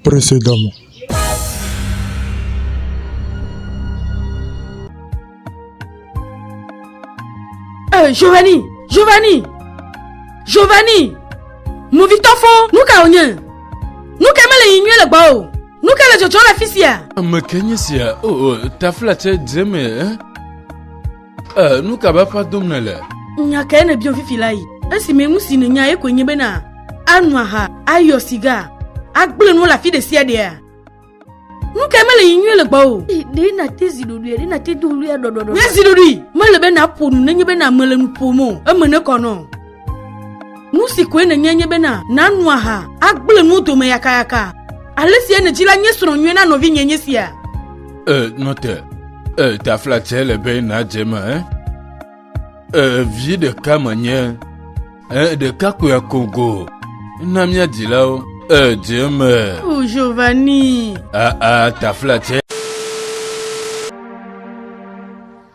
Prese dɔ me. Eh, Giovanni, Giovanni, Giovanni, movitɔ fɔ, nu ka wònye? Nu ka mele yi nyuie le gbɔ o? Nu ka le dzɔdzɔ le afi sia? Ame ke nye sia? O, o, taflatse dze me, eh? Ee, nu ka bafa dom nèle? Nya kae nèbiam fifi la yi? Esime nu si nènya ye koe nye bena ano aha, ayɔ siga, agblẽ nuwo le afi ɖe sia ɖea? Nu kae mele yi nyuie le gbɔ o? Ɖe nàte zi ɖoɖoe, ɖe nàte do ɣlia ɖɔɖɔɖɔ. Nye zi ɖoɖoe mele be nàƒo nu nenye be name le nu ƒom o, eme nekɔ nɔ. Nu si koe nènya nye bena nàno aha, agblẽ nuwo dome yakayaka. Ale si nèdzi la nye srɔ̃ nyuie na nɔvinye nye sia. Ee, nɔ te. Ee, taflatse le be nàdze eme. Eh? Ee, vi ɖeka menye. Ee, ɖeka koe akogo. Na mía dzilawo. Ee, dze eme. O, oh, Giovanni. Aa, ah, ah, taflatse.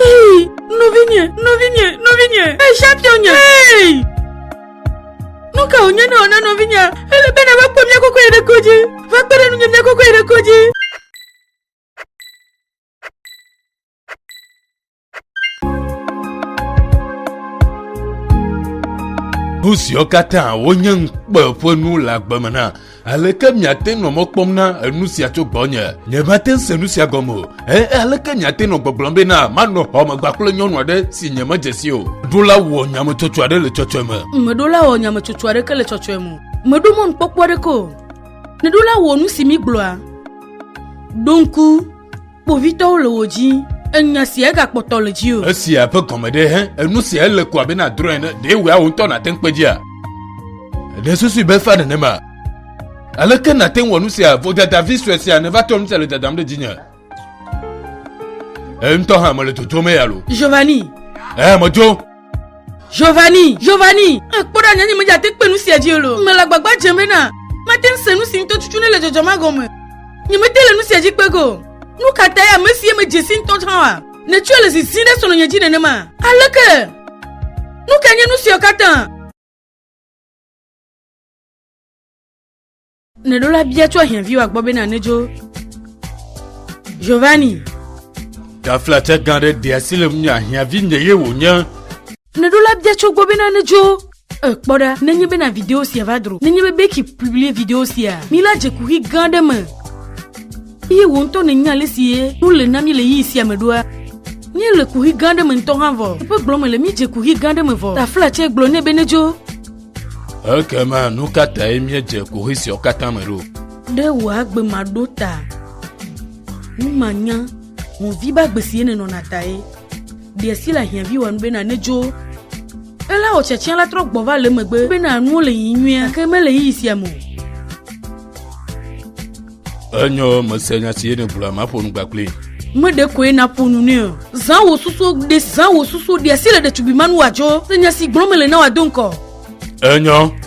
Hey, nɔvinye, nɔvinye, nɔvinye, hey, championnye, hey! Nu ka wònye ne wòna nɔvinya ele bena va kpɔ mía koko yi ɖe kodzi, va kpe ɖe nunye mía koko yi ɖe kodzi. Nu siwo katã wonye ŋukpe ƒe nu le agbe me na Aleke miate nɔ mɔ kpɔm na enu sia tso gbɔnye? Nyemate ŋu se nu sia gɔme o. Ẽ, aleke miate nɔ gbɔgblɔm be na manɔ xɔmegba kple nyɔnu aɖe si nyemedze si o? Ɖola wɔ nyametsotso aɖe le tsɔtsɔe me. Meɖola wɔ nyametsotso aɖeke le tsɔtsɔe me o. Meɖo mɔnukpɔkpɔ aɖeke o. Neɖola wɔ nu si migblɔa. Ɖo ŋku. Kpovitɔwo le wò dzi. Enya sia egakpɔtɔ le dzi o. Esia ƒe gɔme ɖe hẽ? Enu sia ele ko abe nadrɔ̃ ene. Ɖe wòe wò ŋutɔ nàte ŋu kpe dzia? Ɖe susui be fa nenema? Aleke nàte ŋu wɔ nu sia? Vodadavi sue sia neva trɔ nu sia le dadam ɖe dzinye. Eŋutɔ hã mele dodom eya lo. Giovanni. Ee, medzo. Giovanni, Giovanni, ekpɔ ɖa nyanye medze ate kpe nu sia dzi o. Mele agbagba dzem bena mate ŋu se nu si ŋutɔ tutu ne le dzɔdzɔ ma gɔme. Nyemete le nu sia dzi kpe go. Nu ka tae ame si ye medze si ŋutɔ hã wa nètsɔe le zizim ɖe srɔ̃nye dzi nenema? Aleke? Nu kae nye nu siawo katã? Neɖo la bia tso ahiãviwa gbɔ bena nedzo Giovanni. Taflatsa gã ɖe ɖe asi le ŋunye ahiãvi nye ye wònye. Neɖo la bia tso gbɔ bena nedzo ekpɔ ɖa nenye bena video sia va dro nenye be beki publie video sia mi la dze kuxi gã ɖe me eye wò ŋutɔ nènya ale si ye nu le na mi le yiyi sia me ɖoa mi le kuxi gã ɖe me ŋutɔ hã vɔ eƒe gblɔ me le mi dze kuxi gã ɖe me vɔ taflatsa gblɔ nɛ be nedzo Ekema nu ka tae míedze kohe siawo katã me ɖo? Ɖe wò agbe maɖo ta nu manya ŋuvi be agbe sie nenɔna tae ɖe si le ahiãvi wɔ nu bena nedzo ela wò tsɛtsɛ la trɔ gbɔ va le megbe bena nuwo le yi nyuia ke mele yi sia me o. Enyɔ mese nya si yene gblɔa maƒo nu gbakpli. Meɖe koe naƒo nu nɛ o. Zã wò susu ɖe zã wò susu ɖe asi le ɖetugbui manu wòadzo. Se nya si gblɔm mele na wòado ŋkɔ. Enyɔ.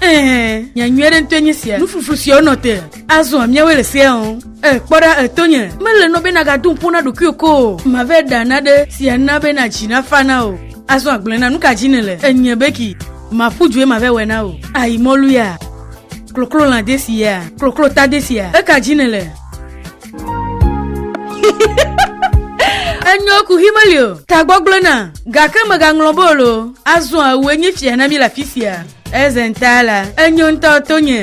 Ɛɛ, nya nyui aɖe ŋutɔe nye sia. Nufufu si wonɔ te azɔa míawoe le sea o. E, kpɔ ɖa etonye. Mele nɔ be nàgado ŋkpo na ɖokuiwò ko o. Mave ɖa naɖe si ana be nàdzi nafa na o. Azɔ agblɔe na nu ka dzi nèle. Enye beki. Maƒu due mave wɔe na o. Ayi mɔlu ya. Kloklolã desia. Kloklota desia. Eka dzi nèle. enyo ku hi meli o tagbɔgblẽ na gake megaŋlɔ bolo azɔ awue nye fia na mi le afi sia ezenta la enyo ŋutɔ to nye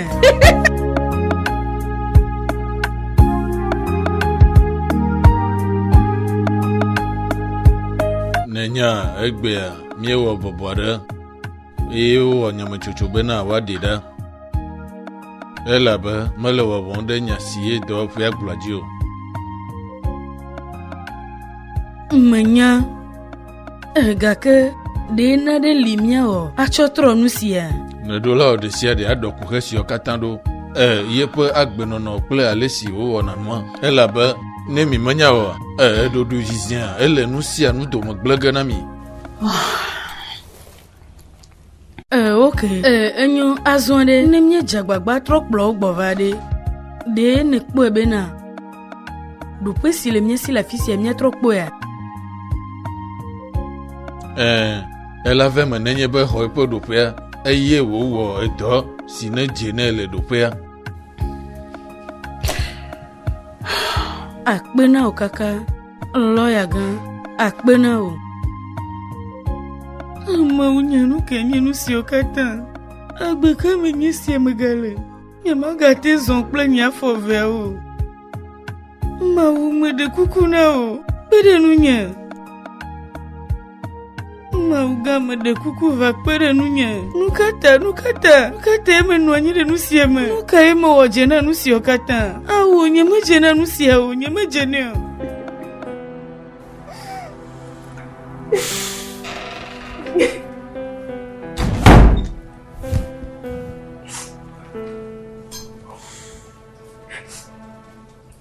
nenya egbea míewɔ bɔbɔ ɖe eye wowɔ nyametsotso bena woaɖi ɖa elabe mele wɔwɔm ɖe nya si ye dɔwɔƒea gblɔa dzi o menya eh, gake ɖe naɖe li míawɔ atsɔ trɔ nu sia nɔɖola wɔ ɖe sia ɖe aɖɔ kuxe siwo katã ɖo e yeƒe agbenɔnɔ kple ale si wowɔna nua elabe ne mi menya o e eɖoɖo zizia ele nu sia nu dome gblege na mi oh. Ɛɛ, ok. Ɛɛ, enyo. Azɔ ɖe, ne míedze agbagba trɔ kplɔ wo gbɔ va ɖe, ɖe nèkpɔe bena ɖoƒe si le mía si le afi sia míatrɔ kpɔea? Ɛɛ, ele ave me nenye be xɔ eƒe ɖoƒea eye wòwɔ edɔ si nedze nɛ le ɖoƒea. Akpe na wò kaka. Lɔya gã, akpe na wò. Amewo nye nu ke nye nu siwo katã. Agbe ka me nye sia megale? Nyemagate zɔ kple nye afɔ veawo. Mawu meɖe kuku na wò, kpe ɖe nunye. Mawu gã meɖe kuku va kpe ɖe nunye. Nu ka ta? Nu ka ta? Nu ka tae menɔ anyi ɖe nu sia me? Nu kae mewɔ dze na nu sia katã? Awo, nyemedze na nu sia o, nyemedze nɛ o.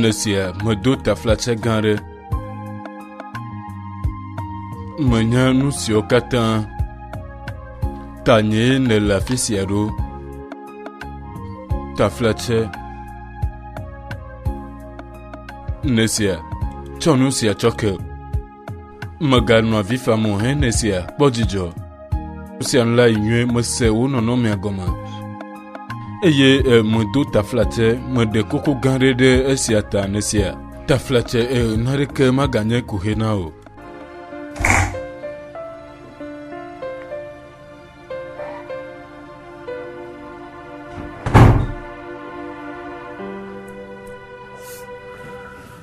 Le sia medo taflatse gã ɖe. Menya nu siwo katã tanye nèle afi sia ɖo. Taflatse. Le sia tsɔ nu sia tsɔ ke. Mèganɔ avi fam o hɛn esia, kpɔ dzidzɔ. Nu sia nu la yi nyuie, mese wo nɔnɔmea gɔme. Eye medo taflatse, meɖe koko gã ɖe ɖe esia ta nesia. Taflatse, naɖeke maganye kuxe na o.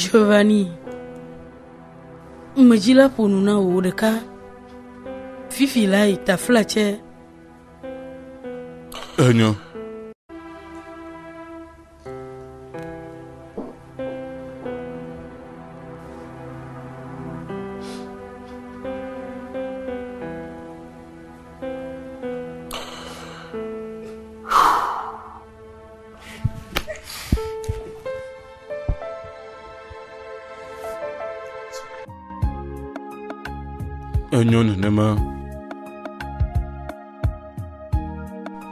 Giovanni, ŋmɛ dzi la ƒo nu na wò ɖeka. Fifi la yi tafla tsɛ. Enyo. Enyo nenema.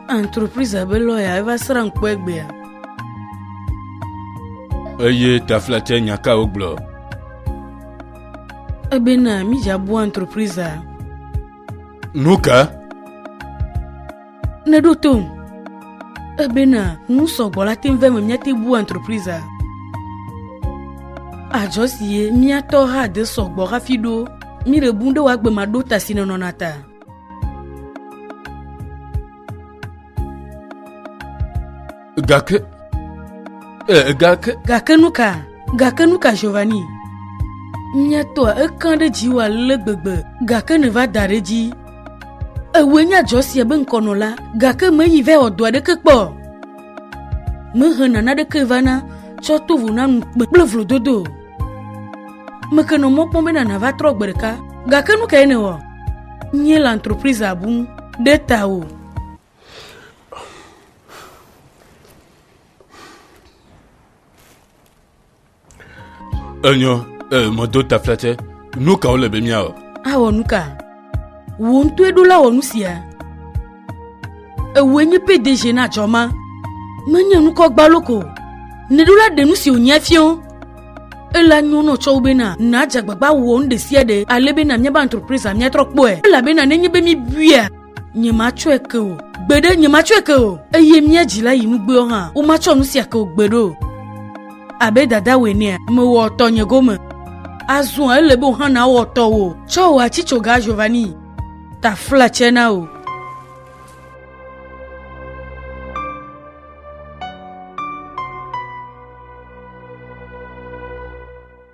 Entreprise be lɔya eva srã ŋkpɔ egbea. Eye taflatse nya ka wogblɔ? Ebena mi dza bu entreprise a. Nu ka? Neɖo tom. Ebena nu sɔgbɔ la te ŋu ve me míate bu entreprise a. Adzɔ si ye míatɔ hã de sɔgbɔ hafi ɖo míɖe bu ɖe wòagbe ma ɖo ta si nenɔna ta. Gake. Eh, gake. Gake nu ka? Gake nu ka, Giovanni? Nye tɔa ekã ɖe dziwò ale gbegbe, gake nèva da ɖe dzi. Ewoe nye adzɔ sia be ŋkɔnɔ la, gake meyi vɛ wɔ dɔ aɖeke kpɔ. Mehe nana ɖeke vana tsɔ to vo na nu kpe kple vlododo. Mekenɔ mɔ kpɔm be nana va trɔ gbe ɖeka, gake nu kae nèwɔ? Nye le entreprise abu ɖe ta o. Enyɔ, e, mɔdo taflatɛ, nu kawo le be míawɔ? Awɔ nu ka? Wò ŋutɔe ɖo la wɔ nu sia. Ewɔe nye PDG na dzɔ ma. Menye nukɔ gbalo ko. Neɖo la ɖe nu si wònyia fiɔ. Ela nyo nɔ tsɔwo bena nàdze agbagba wɔ nu ɖe sia ɖe ale bena míabe entreprise miatrɔ kpɔe. Elabena nenye be míebuia nyematsɔe ke o gbeɖe nyematsɔe ke o eye mía dzila yi nugbewo hã womatsɔ nu sia ke o gbeɖe o abe dadawòe nea mewɔ tɔnye gome azɔ ele be wò hã nawɔ tɔwò tsɔ wò atsitsoga giovanni tafla tsɛ na wò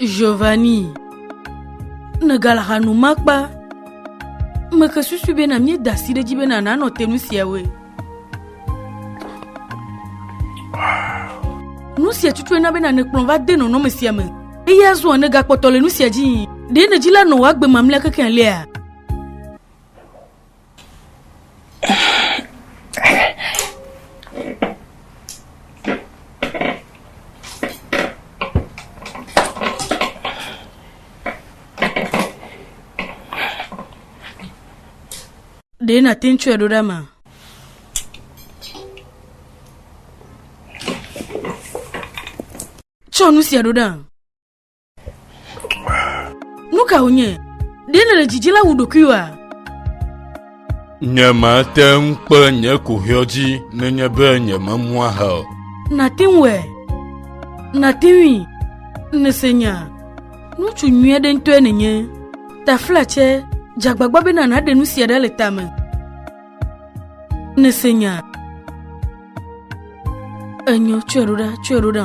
Giovanni, Megale hanuma kpa. Meke susu bena míeda asi ɖe edzi bena nànɔ te nu siawoe. Nu sia tutue na bena nèkplɔ va de nɔnɔme sia me eye azɔ nègakpɔtɔ le nu sia dzi. Ɖe nèdzi la nɔ wò agbe mamlɛa kekealia? ɖee nàte ŋu tsɔe ɖo ɖa ma tsɔ nu sia ɖo ɖa Nu ka wònye? Ɖe nèle dzidzi la wu ɖokuiwòa? Nyemate ŋu kpe nye kohiɔ dzi nenye be nyememu aha o. Nàte ŋuɛ. Nàte ŋui. Nèse nya. Ŋutsu nyui aɖe ŋutɔe nènye. Taflatsɛ, dze agbagba bena nàɖe nu sia ɖa le tame. Nèse nya. Enyo, tsɔe ɖo ɖa, tsɔe ɖo ɖa.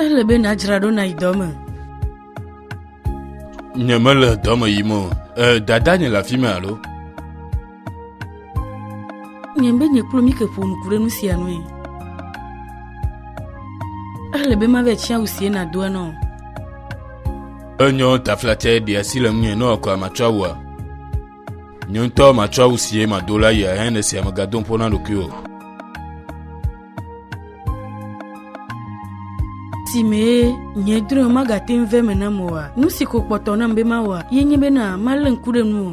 Ele be nàdzra ɖo nàyi dɔ me. Nyemele dɔ me yim o. E, dada nye le afi me alo? Nye be nye kple Mike ƒo nuku ɖe nu sia nue. Ele be mave tsi awu sie nàdo enɔ. Enyɔ taflatɛ ɖe asi le ŋunye nɔ kɔa matsɔ awua. Nye ŋutɔ matsɔ awu sie mado la yia hɛn esia megado ƒo na ɖokuiwò. si mee nye drɔ̃e magate ŋu ve me nam oa? Nu si ko kpɔtɔ nam be mawɔa ye nye bena malé ŋku ɖe nu o.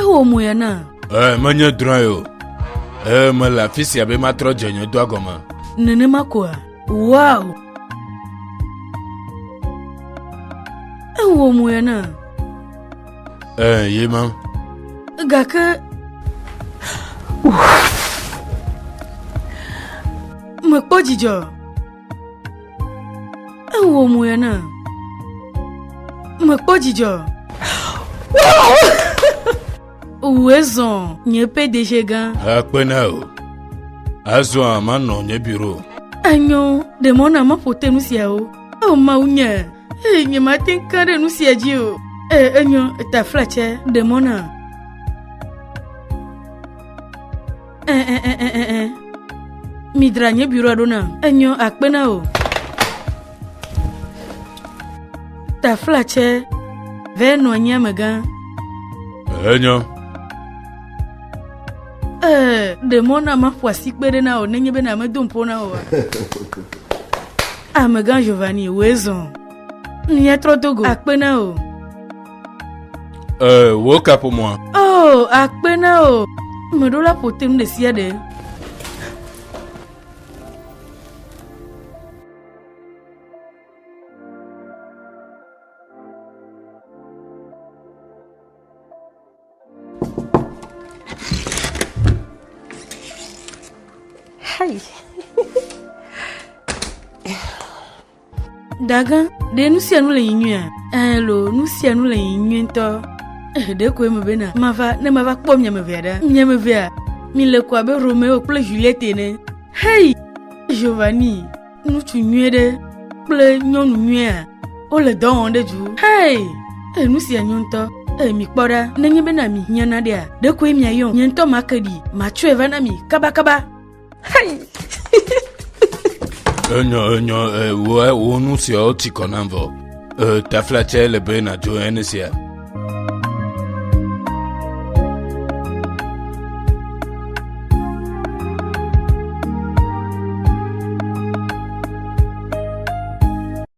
Ewɔ mo ya na? Ee, menye drɔ̃e o. Ee, mele afi sia be matrɔ dze nye dɔa gɔme. Nenema koa? Wow! Ewɔ mo ya na? Ee, ye ma. Gake. Mekpɔ dzidzɔ. Ewɔ mo ya na. Mekpɔ dzidzɔ. Wòe zɔ nye ƒe deje gã. Akpe na o. Azɔ manɔ nye biro. Enyo ɖe mɔ na maƒo te nu siawo. O Mawu nye, ee nye mate ŋu ka ɖe nu sia dzi o. Ee enyo taflatsɛ ɖe mɔ na. ɛɛɛɛɛɛ midra nye biura ɖo na enyɔ akpe na o tafla tsɛ vɛ nɔ anyi amegã Enyo. ee ɖe mɔ na maƒo asikpe ɖe na o nenye be na medo ŋƒo na oa amegã giovanni wòe zɔ miatrɔ dogo akpe na o Ee, wò kaƒomɔa. Oh, akpe na o. Meɖo la ƒo te nu ɖe sia ɖe. Dagã, ɖe nu sia nu le yi nyuia? Ɛɛ loo, nu sia nu le yi nyui ŋutɔ. Eh, ɖe koe mebe na mava ne mava kpɔ mia me vea ɖa. Mia me vea, mi le ko abe Romeo kple Juliette ene. Hei, Giovanni, ŋutsu nyuie ɖe kple nyɔnu nyuia, wole dɔ wɔm ɖe du. Hei, eh, nu sia nyo ŋutɔ. Eh, mi kpɔ ɖa, nenye bena mi hiã naɖea, ɖe koe miayɔm. Nye ŋutɔ make ɖi, matsɔe va na mi kabakaba. Enyo, enyo, wo, wo nu siawo ti kɔ nam vɔ. Tafla tsɛ le be nàdzo ene sia.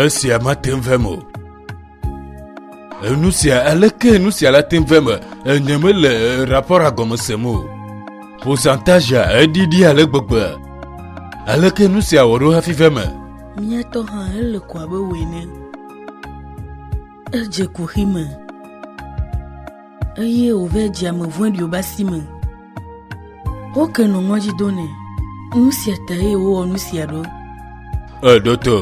Esia mate ŋu vem o. Enu sia aleke nu sia la te ŋu vem enye mele rapɔra gɔme sem o. Pourcentage eɖiɖi ale gbegbe. Aleke nu sia wɔ ɖo hafi vem? Mía tɔ hã ele ko abe wò ene. Edze kuxi me. Eye wòve dziame vɔ̃ɖiwo be asi me. Woke nɔ ŋɔdzi do nɛ. Nu sia ta eye wowɔ nu sia ɖo. Eɖo to,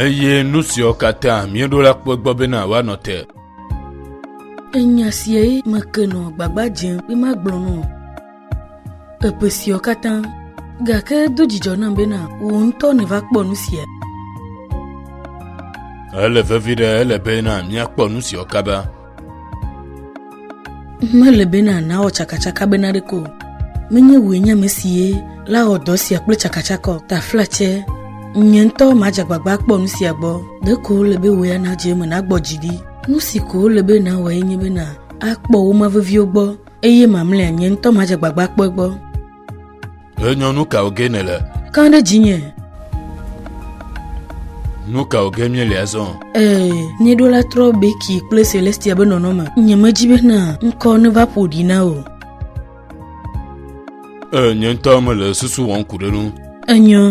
eye nu siawo katã mieɖo la kpɔ gbɔ bena woanɔ te. Enya siae meke nɔ gbagba dzem be magblɔ nɔ. Eƒe siɔ katã. Gake do dzidzɔ nam bena wò ŋutɔ nèva kpɔ nu sia. Ele vevi ɖe ele bena míakpɔ nu siɔ kaba. Mele bena nawɔ tsakatsaka bena ɖeko. Menye wòe nye ame sie la wɔ dɔ sia kple tsakatsakɔ. Taflatse, nye ŋutɔ madze agbagba akpɔ nu sia gbɔ. Ɖeko wòle be wò ya nadze eme nagbɔ dzi ɖi. Nu si ko wòle be nawɔe nye bena akpɔ wo ma veviwo gbɔ. Eye mamlɛa nye ŋutɔ madze gbagba kpɔe gbɔ. Ɣe nyɔ nu kawo ge nèle? Kã ɖe dzinye. Nu kawo ge míele azɔ? Ee, míeɖo la trɔ Becky kple Celestia be nɔnɔme. Nyemedi be na ŋkɔ neva ƒo ɖi na wò. Ee, nye ŋutɔ mele susu wɔm ku ɖe nu. Enyɔ.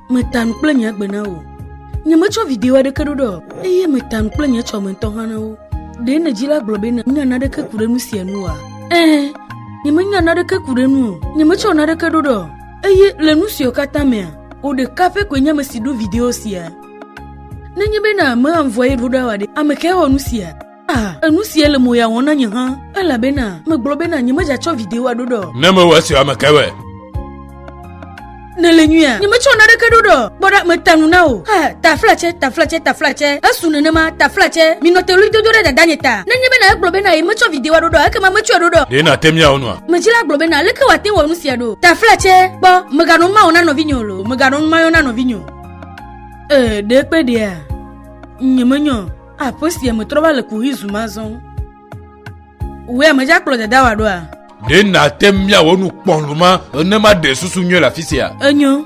meta nu kple nye agbe na wò nyemetsɔ video aɖeke ɖo ɖe o eye meta nu kple nye tsɔme ŋutɔ hã na wo ɖe nedzi la gblɔ be menya naɖeke ku ɖe nu sia nu oa ɛɛ nyemenya naɖeke ku ɖe nu o nyemetsɔ naɖeke ɖo ɖe o eye le nu siwo katã mea wò ɖeka pɛ koe nye ame si ɖo video sia nenye bena mea ŋvɔe ɖo ɖa oa ɖe ame kae wɔ nu sia Ah, enu sia le mo ya wɔm na nye hã elabena megblɔ bena nyemegatsɔ videoa ɖo ɖɔ. Ne mewɔ esi ame ke be. Nele nyuia nyemetsɔ naneke ɖo ɖɔ kpɔ ɖa meta nu na o. Ha taflatsɛ taflatsɛ taflatsɛ esu nenema taflatsɛ minɔ te ɣli dodo ɖe dada nye ta. Nenye bena egblɔ bena yemetsɔ videoa ɖo ɖɔ ekema metsɔe ɖo ɖɔ. Ɖe nàte miawɔ nua? Medzila gblɔ bena aleke wòate wɔ nu sia ɖo. Taflatsɛ kpɔ meganɔ nu ma wɔ na nɔvinye o lo meganɔ nu ma yɔ na nɔvinye o. Ee ɖe kpe ɖea nyemenyɔ. Aƒe sia me trɔ va le kuxi zu mazɔ. Wòe ame dza kplɔ dada wa ɖoa? Ɖe nàte miawɔ nu kpɔluma ne maɖe susu nyuie le afi sia? Enyo.